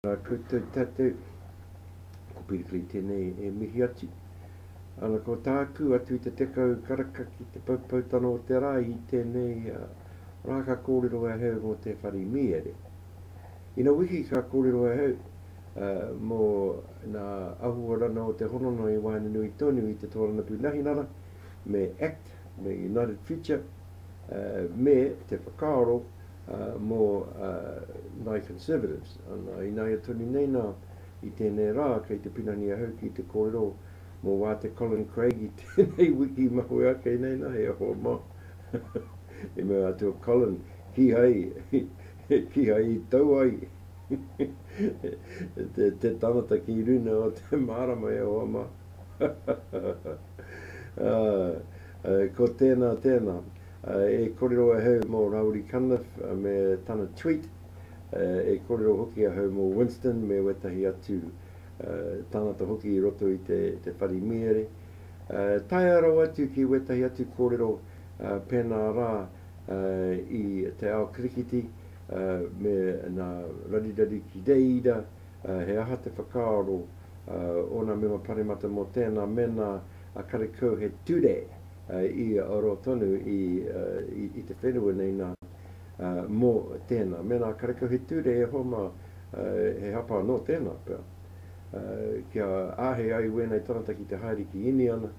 Tēnā koutou tātou, ko Pirikiri tēnei e mihi atu. Ana ko tāku atu i te tekau karaka ki te poupoutano o te rā i tēnei rā ka kōrero ahau mō te whare mīere. Ina wiki ka kōrero ahau mō ngā ahuarana o te hononga i waenga nui tonu i te tōrangapū Nahinara me act me United Future me te whakaaro mō ngāi Conservatives. Ana, ināia tonu nei nā, i tēnei rā kei te pinani ahau ki te kōrero mō wā te Colin Craig i tēnei wiki mahue ake nei nā, he aha mā? I mea atu a Colin, kīhai. He kihai i tau ai te tangata ki runa o te marama e hoa ma. Ko tena tena e korero ahau mo Rauri Cunliffe me tana tweet, e korero hoki ahau mo Winston me wetahi atu tangata hoki i roto i te whare miere, taea rawa atu ki wetahi atu korero pena ra. i te ao kirikiti me nā Rarirari ki reira, he aha te whakaaro o nā mema paremata mō tēnā mena a karekau he ture i aro tonu i te whenua nei nā mō tēnā mena a karekau he ture e hoa mā he hapa anō tēnā pea kia āhei ai wēnei tangata ki te haere ki Iniana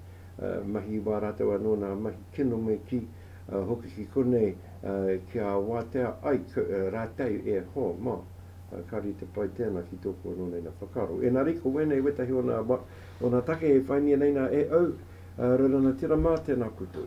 mahi wā rātou anō nā mahi kino me kī. hoki ki konei kia wātea ai rātou e ho mā, ka rite pai tēnā ki tōku anō nei nā whakaaro. Ēnari, ko wēnei wētahi o nā, o nā take e whaingia nei nā e au, Rerana Tira mā, tēnā koutou.